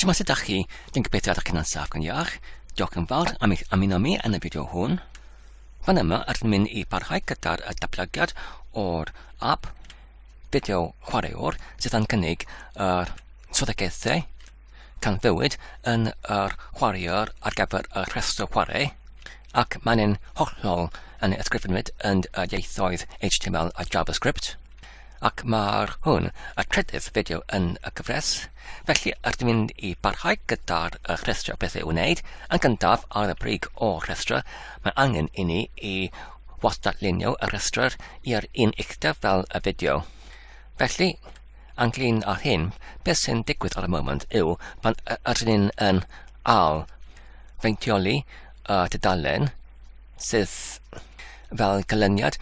Shwmae sydd ydach chi? Dwi'n gobeithio ydych chi'n ansaf gan iach. Diolch yn fawr am eich ymuno mi yn y fideo hwn. Fan yma rydyn mynd i barhau gyda'r datblygiad o'r app fideo chwaraewr sydd yn cynnig yr swyddogaethau tanfywyd yn yr chwaraewr ar gyfer y rhestr chwarae ac mae'n hollol yn ysgrifenwyd yn y ieithoedd HTML a JavaScript. ac mae'r hwn y trydydd fideo yn y gyfres, felly ydym ni'n mynd i barhau gyda'r uh, rhestrio beth i'w wneud, yn gyntaf ar y brig o rhestro, mae angen i ni i wastadlunio y rhestr i'r un uchder fel y fideo. Felly, anglyn ar hyn, beth sy'n digwydd ar y moment yw pan ydyn ni'n yn al feintioli y uh, tudalen sydd fel canlyniad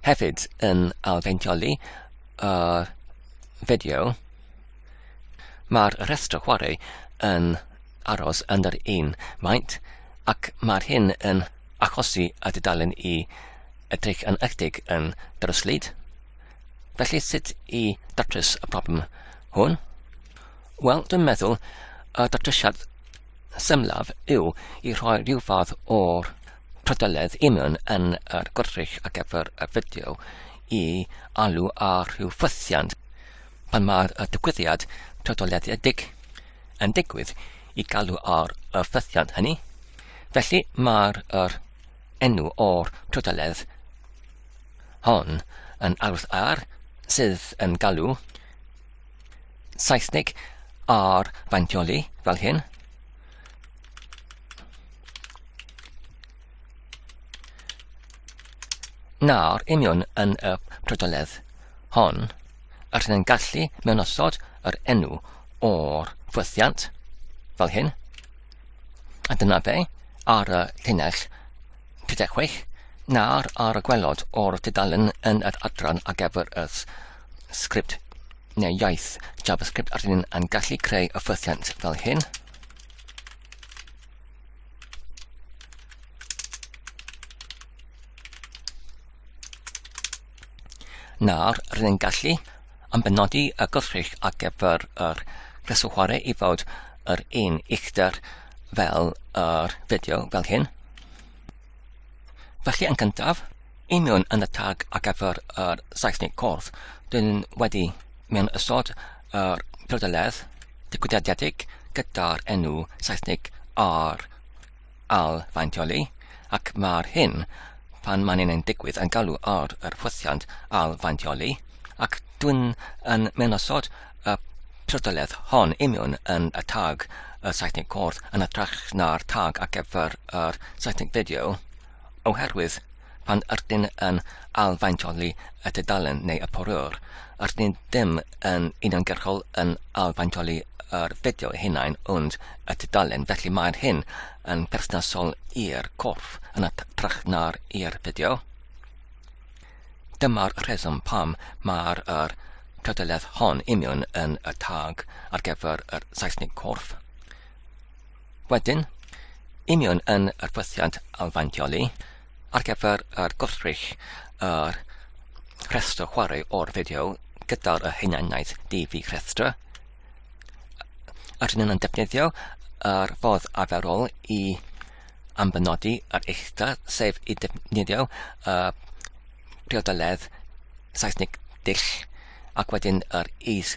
Hefyd yn ailfeintioly y fideo, mae'r rhestr chwarae yn aros yn yr un maint ac mae'r hyn yn achosi y dudalen i edrych yn ychydig yn dryslyd. Felly sut i datrys y problem hwn? Wel, dwi'n meddwl y datrysiad symlaf yw i rhoi rhyw fath o'r Pryderodd Eamonn yn yr gwrych ar gyfer y fideo i alw ar rhyw ffythiant pan mae'r digwyddiad pryderolyedig yn digwydd i galw ar y ffythiant hynny. Felly mae'r er enw o'r pryderodd hon yn aros ar sydd yn galw Saesnig ar faintioli fel hyn. Nawr, union yn y prydoledd hon, yr hyn yn gallu mewn osod yr enw o'r ffwythiant, fel hyn, a dyna fe, ar y llinell 36, nawr ar y gwelod o'r dudalen yn yr adran ar gyfer y sgript neu iaith JavaScript yr hyn yn gallu creu y ffwythiant fel hyn, Nawr, rydyn ni'n gallu yn benodi y gwrthrych ar gyfer yr cyswchware i fod yr un uchder fel yr fideo fel hyn. Felly yn gyntaf, i mewn yn y tag ar gyfer yr Saesneg corff, dyn wedi mewn ysod yr Prydalerdd digwyddiadedig gyda'r enw Saesneg ar ail fainteoli, ac mae'r hyn pan mae'n ein digwydd yn galw ar yr hyfforddiant ail fainteoli, ac dwi'n yn mynosod y Prydalerdd hon imiwn yn y tag y Saesneg Cwrdd yn hytrach na'r tag ar gyfer yr Saesneg Fideo, oherwydd Pan ydyn yn ailfaintoli y tudalen neu y porwr, ydyn ddim yn uniongyrchol yn ailfaintoli yr fideo ei hunain ond y tudalen, felly mae'r hyn yn berthnasol i'r corff yn hytrach na'r i'r fideo. Dyma'r rheswm pam mae'r yr tudaledd hon union yn y tag ar gyfer yr Saesnig corff. Wedyn, union yn yr fythiant alfantioli ar gyfer yr gwrthrych yr rhestr chwarae o'r fideo gyda'r y hunaniaeth DV rhestr. Ydyn nhw'n defnyddio yr ffordd arferol i ambenodi yr eithda, sef i defnyddio y priodoledd Saesnig dill ac wedyn yr is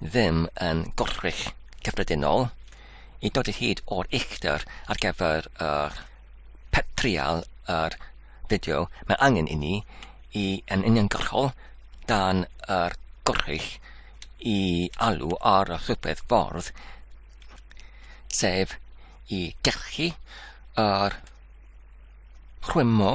ddim yn gorchwyll cyffredinol i dod i hyd o'r uchder ar gyfer yr trial yr fideo mae angen i ni i yn uniongyrchol dan yr gorchwyll i alw ar y rhywbeth ffordd sef i gellu yr rhwymo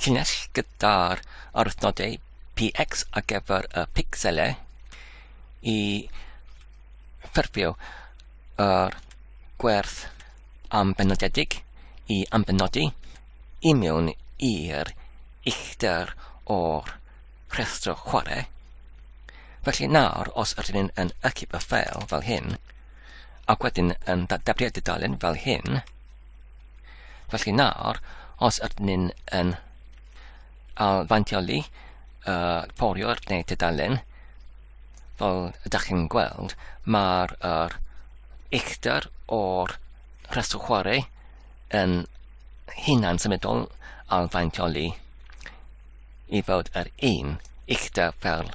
Llinell gyda'r arwythnodau PX ar gyfer y picselau i ffurfio yr gwerth ambenodedig i ambenodi i mewn i'r uchder o'r rhestr chwarae. Felly nawr, os ydyn ni'n yn ychyb y ffeil fel hyn, ac wedyn yn dadablu'r dudalen fel hyn, Felly nawr, os ydyn ni'n yn alfantioli uh, porio'r neu tudalen, fel ydych chi'n gweld, mae'r er, uchder o'r rhestr chwarae yn hunan symudol alfantioli i fod yr un uchder fel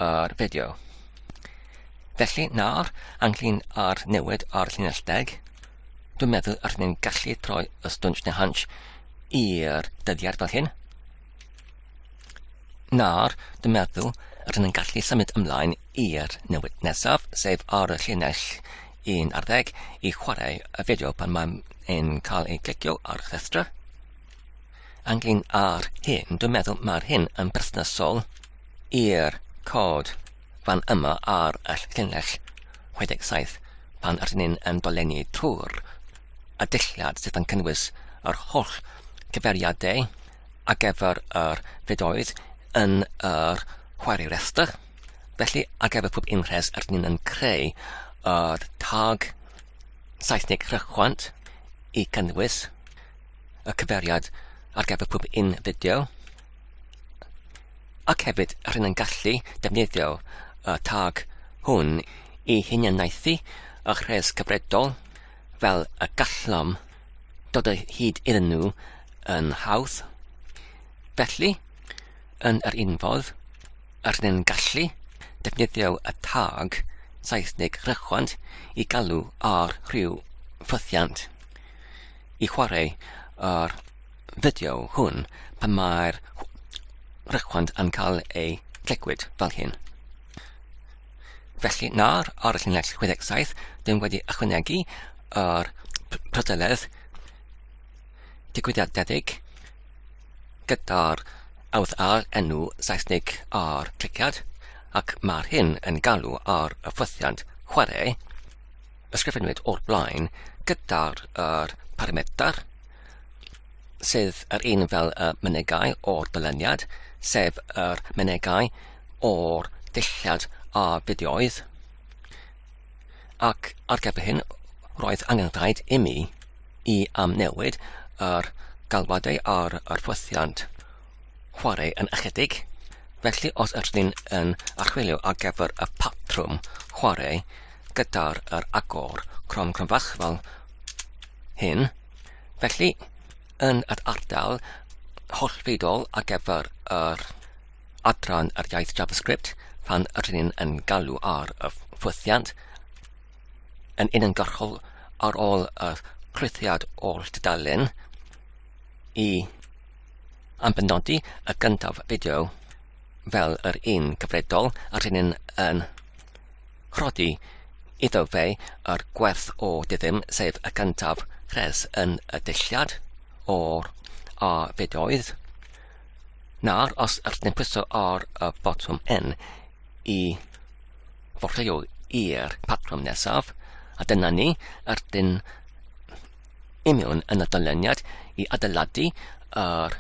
yr fideo. Felly nawr, anglyn ar newid ar llinell deg, Dwi'n meddwl yr ni'n gallu troi y stwnsh neu hunch i'r dyddiad fel hyn. Nawr, dwi'n meddwl yr ni'n gallu symud ymlaen i'r newid nesaf, sef ar y llinell un ar ddeg i chwarae y fideo pan mae'n yn cael ei glicio ar y llestra. Anglyn ar hyn, dwi'n meddwl mae'r hyn yn busnesol i'r cod Fan yma ar y llinell 67 pan rydyn ni'n yn dolenni trwy'r addilliad sydd yn cynnwys yr holl gyfeiriadau ar gyfer yr fidoedd yn yr chwarae rhestr. Felly ar gyfer pob unrhes rydyn ni'n yn creu yr tag Saesneg rhychwant i gynnwys y cyfeiriad ar gyfer pob un fideo. Ac hefyd, rydyn yn gallu defnyddio y tag hwn i hunianaethu y rhes cyfredol fel y gallom dod o hyd iddyn nhw yn hawdd. Felly, yn yr un fodd, rydyn yn gallu defnyddio y tag Saesneg rychwant i galw ar rhyw ffythiant. i chwarae yr fideo hwn pan mae'r rhaglen yn cael ei glegwyd fel hyn. Felly nawr ar y llinell 67, dyn wedi ychwanegu yr prydeledd digwyddiadedig gyda'r awdd a'r enw Saesnig ar cliciad ac mae'r hyn yn galw ar y ffwythiant chwarae ysgrifennwyd o'r blaen gyda'r er paramedr sydd yr un fel y mynegai o'r dyluniad, sef yr mynegai o'r dulliad a fideoedd. Ac ar gyfer hyn, roedd angen rhaid imi i amnewid yr galwadau ar yr ffwythiant. chwarae yn ychydig, felly os ydych chi'n yn archwilio ar gyfer y patrwm chwarae gyda'r yr agor crom cromfach fel hyn, felly yn yr ardal hollfeidol ar gyfer yr adran yr iaith JavaScript pan ydych chi'n yn galw ar y ffwythiant yn uniongyrchol ar ôl y chlwythiad oll dudalen i Am benodi y gyntaf fideo fel yr un gyfredol a rheni'n yn rhodi iddo fe yr gwerth o dyddym sef y gyntaf rhes yn y dilliad o'r a fideoedd na'r os yr neu pwyso ar y botwm N i forfeio i'r patrwm nesaf a dyna ni yr dyn i mewn yn y dyluniad i adeiladu yr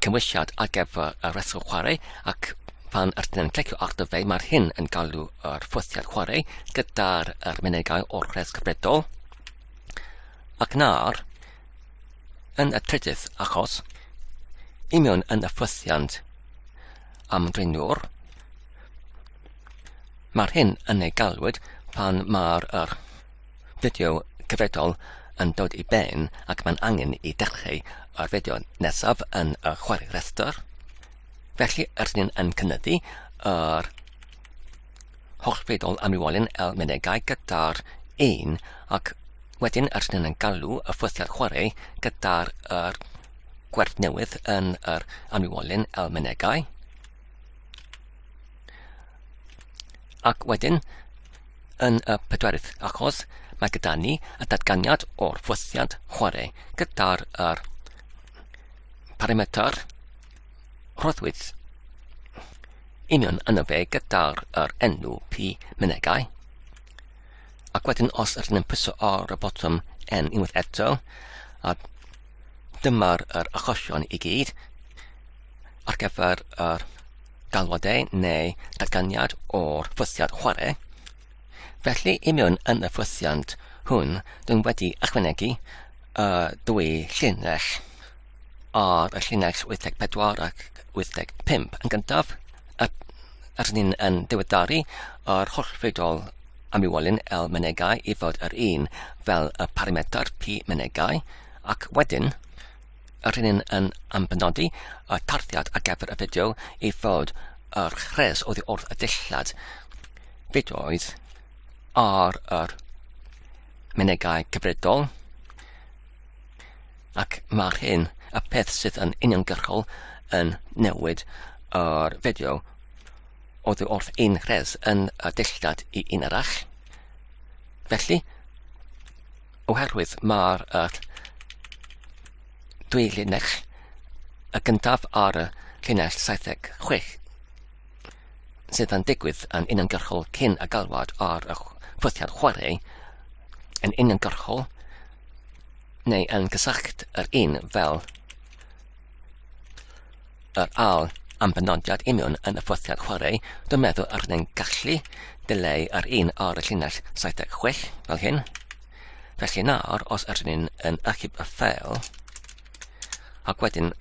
cymwysiad ar gyfer y rheswm chwarae ac pan ydyn yn clicio ar dy fe mae'r hyn yn galw yr ffwthiad chwarae gyda'r er mynegau o'r rhes cyfredol ac nawr yn y trydydd achos i mewn yn y ffwthiant am drinwr Mae'r hyn yn ei galwyd pan mae'r er fideo cyfredol yn dod i ben ac mae'n angen i dechrau o'r fideo nesaf yn y chwarae rhestr. Felly, rydyn ni'n yn cynyddu yr holl fidol am rywolen el menegau gyda'r un ac wedyn rydyn ni'n yn galw y ffwythiad chwarae gyda'r er gwerth newydd yn yr amrywolen el menegau. Ac wedyn, Yn y pedwerydd achos, mae gyda ni y datganiad o'r fwthiant chwarae gyda'r er parametr rhoddwyd union yna fe gyda'r er enw P mynegau. Ac wedyn os ydyn ni'n pwyso ar y botwm N unwaith eto, a dyma'r er achosion i gyd ar gyfer yr er galwadau neu datganiad o'r ffwythiant chwarae. Felly, i mewn yn y ffwythiant hwn, dwi'n wedi ychwanegu y dwy llinell ar y llinell 84 ac 85 yn gyntaf, a, a rydyn ni'n yn diweddaru yr holl fedol am iwolyn L menegau i fod yr un fel y parametr P menegau, ac wedyn Yr hyn yn yn ambenodi y tarddiad ar gyfer y fideo i fod yr rhes oddi wrth y dillad fideoedd ar yr menegau cyfredol ac mae'r hyn y peth sydd yn uniongyrchol yn newid yr fideo oddi wrth un rhes yn y dillad i un arall. Felly, Oherwydd mae'r yr dwy linell y gyntaf ar y llinell 76 sydd yn digwydd yn uniongyrchol cyn y galwad ar y ffwythiad chwarae yn uniongyrchol neu yn gysylltu yr un fel Yr awl am benodiad union yn y ffothiad chwarae, dwi'n meddwl yr hynny'n gallu dileu yr un ar y llinell 76 fel hyn. Felly nawr, os yr hynny'n yn achub y ffeil, ac wedyn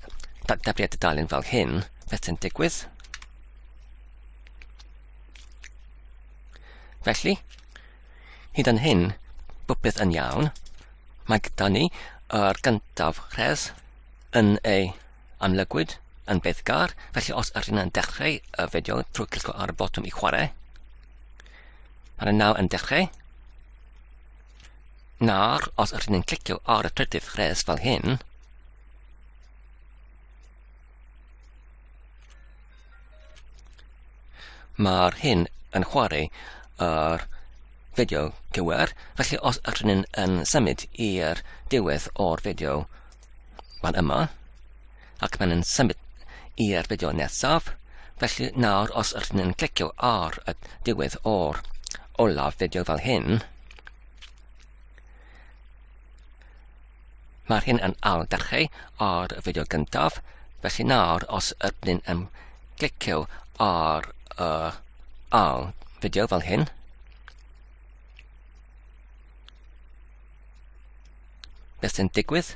datblygiad y dalyn fel hyn, beth sy'n digwydd? Felly, hyd yn hyn, bwpeth yn iawn. Mae gyda ni yr gyntaf rhes yn ei amlygwyd yn beth gar, felly os ydych yn dechrau y fideo trwy clicio ar y botwm i chwarae, mae yna nawr yn dechrau, nawr os ydych yn clicio ar y trydydd rhes fel hyn, Mae'r hyn yn chwarae ar fideo cywir, felly os ydyn ni'n yn symud i'r diwedd o'r fideo, mae'n yma, ac mae'n yn symud i'r fideo nesaf, felly nawr os ydyn ni'n clicio ar y diwedd o'r olaf fideo fel hyn, Mae'r hyn yn al dachu o'r fideo gyntaf, felly nawr os ydyn yn clicio ar y uh, al fideo fel hyn, beth sy'n digwydd?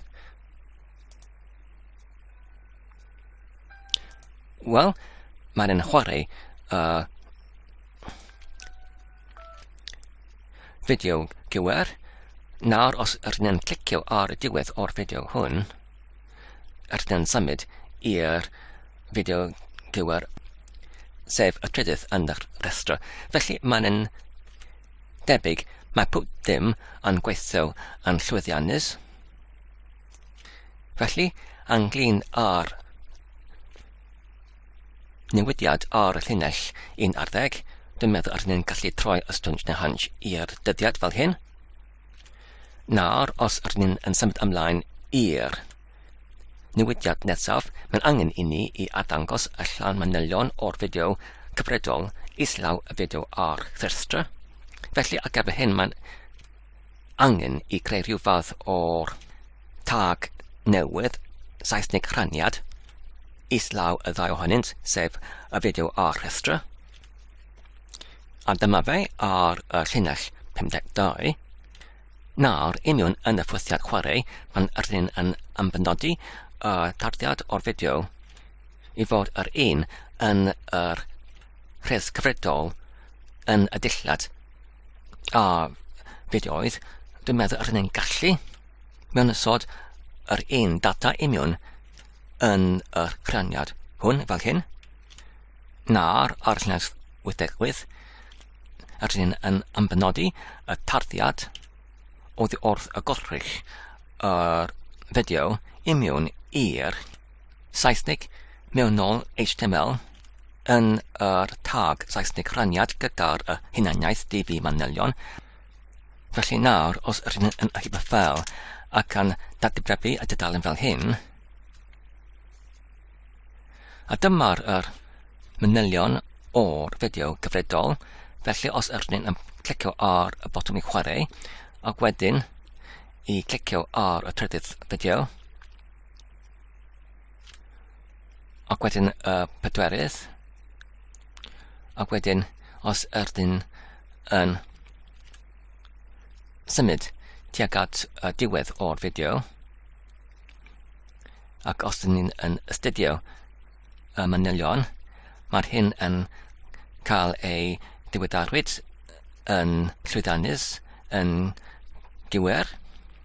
Wel, mae'n yn chwarae uh, Fideo gywir. Nawr os rydyn clicio ar y diwedd o'r fideo hwn, rydyn symud i'r fideo gywir sef y trydydd yn yr rhestr. Felly mae'n yn debyg mae pob dim yn gweithio yn llwyddiannus. Felly, anglyn ar Newidiad ar y llinell un ar ddeg, dwi'n meddwl ar ni'n gallu troi y stwnc neu hanj i'r dyddiad fel hyn. Nawr, os ar ni'n yn symud ymlaen i'r newidiad nesaf, mae'n angen i ni i ardangos y llan manylion o'r fideo cyfredol islaw y fideo ar Therstra. Felly, ar gyfer hyn, mae'n angen i greu rhyw fath o'r tag newydd, Saesneg rhaniad, islaw y ddau ohonynt, sef y fideo a'r rhestra. A dyma fe ar y llinell 52. Nawr, i mewn yn y ffwythiad chwarae, pan yr hyn yn ymfynodi y tarddiad o'r fideo i fod yr un yn yr rhes cyfredol yn y dillad A fe di oedd, dwi'n meddwl yr hynny'n gallu mewn ysod yr un data imiwn yn yr rhaniad hwn fel hyn, na'r ar llnes 88, yr hyn yn ymbenodi y tarddiad o ddi wrth y gorrych yr fideo imiwn i'r Saesneg mewnol HTML yn yr tag Saesneg rhaniad gyda'r uh, hunaniaeth DB manylion. Felly nawr, os rydyn yn achub y ffel ac yn datblygu y dudalen fel hyn, a dyma'r er, manylion o'r fideo gyfredol, felly os ydych chi'n um, clicio ar y botwm i chwarae, ac wedyn i clicio ar y trydydd fideo, Ac wedyn y uh, pedwerydd. Ac wedyn, os ydyn yn symud tuag at y diwedd o'r fideo, ac os ydyn ni'n yn astudio y manylion, mae'r hyn yn cael ei diweddarwyd yn llwyddiannus, yn gywir,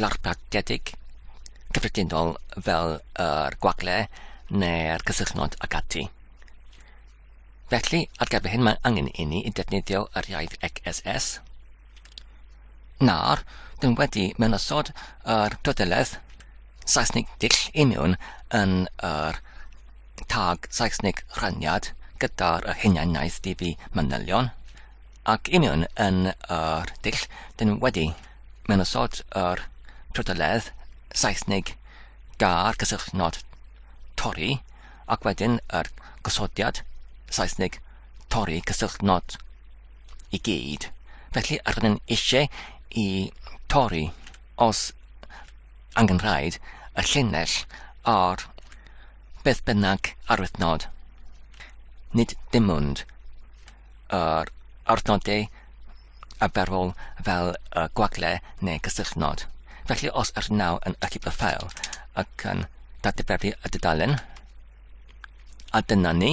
larpagedig, cyffredinol fel yr gwagle neu'r cysylltnod ac ati. Felly, ar gyfer hyn mae angen i ni i defnyddio yr iaith XSS. Nawr, dyn wedi mewnasod yr droddeledd Saesnig dull i mewn yn yr tag Saesnig rhaniad gyda'r hunianaeth DB manylion. Ac union yn yr dull, dyn ni wedi mewn osod yr trydydd Saesnig gair cysylltnod torri ac wedyn yr gosodiad Saesnig torri cysylltnod i gyd. Felly, ar rydyn eisiau i torri os angen rhaid y llinell ar beth bynnag arwythnod. Nid dim ond yr adnoddau arferol fel y gwagle neu gysylltnod. Felly os yr naw yn achub y ffael ac yn dadferthu y dudalen, a dyna ni.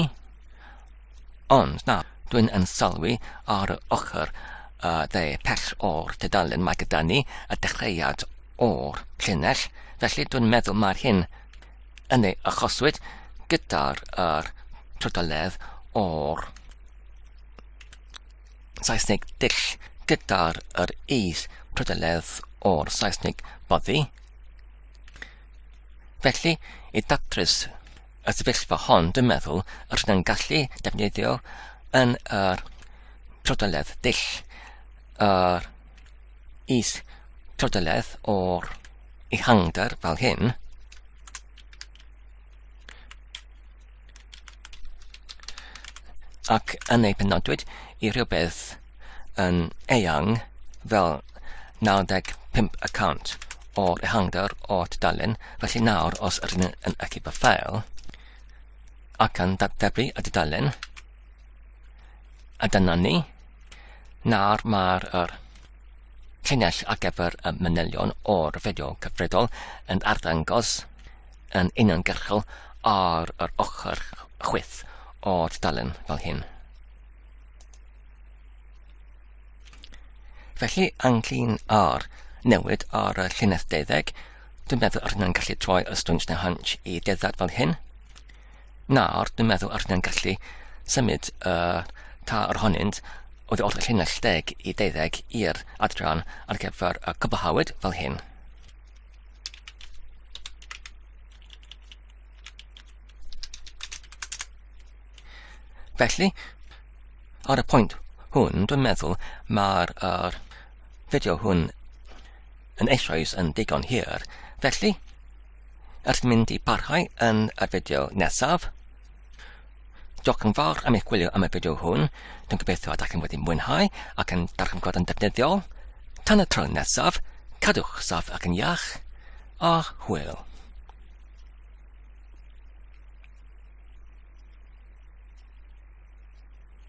Ond na, dwi'n yn sylwi ar y ochr y dde pell o'r dudalen mae gyda ni y dechreuad o'r llinell, felly dwi'n meddwl mae'r hyn yn ei achoswyd gyda'r yr trydeledd o'r Saesneg dull gyda'r yr is trydeledd o'r Saesneg boddi. Felly, i datrys y sefyllfa hon, dwi'n meddwl, yr ydym gallu defnyddio yn yr trydeledd dull yr is trydeledd o'r ehangder fel hyn, ac yn ei penodwyd i rhywbeth yn eang fel 95 y cant o'r ehangder o'r tudalen, felly nawr os ydyn yn echu fy ffeil ac yn datblygu y tudalen, a dyna ni, nawr mae'r er, Llinell ar gyfer y manylion o'r fideo cyfredol yn arddangos yn uniongyrchol ar yr ochr chwith o'r dudalen fel hyn. Felly, anglyn ar newid ar y llinell deuddeg, dwi'n meddwl ar hynny'n gallu troi y stwnt na hynch i deddad fel hyn. Nawr, dwi'n meddwl yr ni'n gallu symud y tair ohonynt oddi wrth y llinell deg i deuddeg i'r adran ar gyfer y cwblhawyd fel hyn. Felly, ar y pwynt hwn, dwi'n meddwl mae'r er, fideo hwn yn eisoes yn digon hir. Felly, Ers mynd i parhau yn y fideo nesaf. Diolch yn fawr am eich gwylio am y fideo hwn. Dwi'n gobeithio ydych chi'n wedi mwynhau ac yn darganfod yn defnyddiol. Tan y tro nesaf, cadwch saff ac yn iach, a hwyl.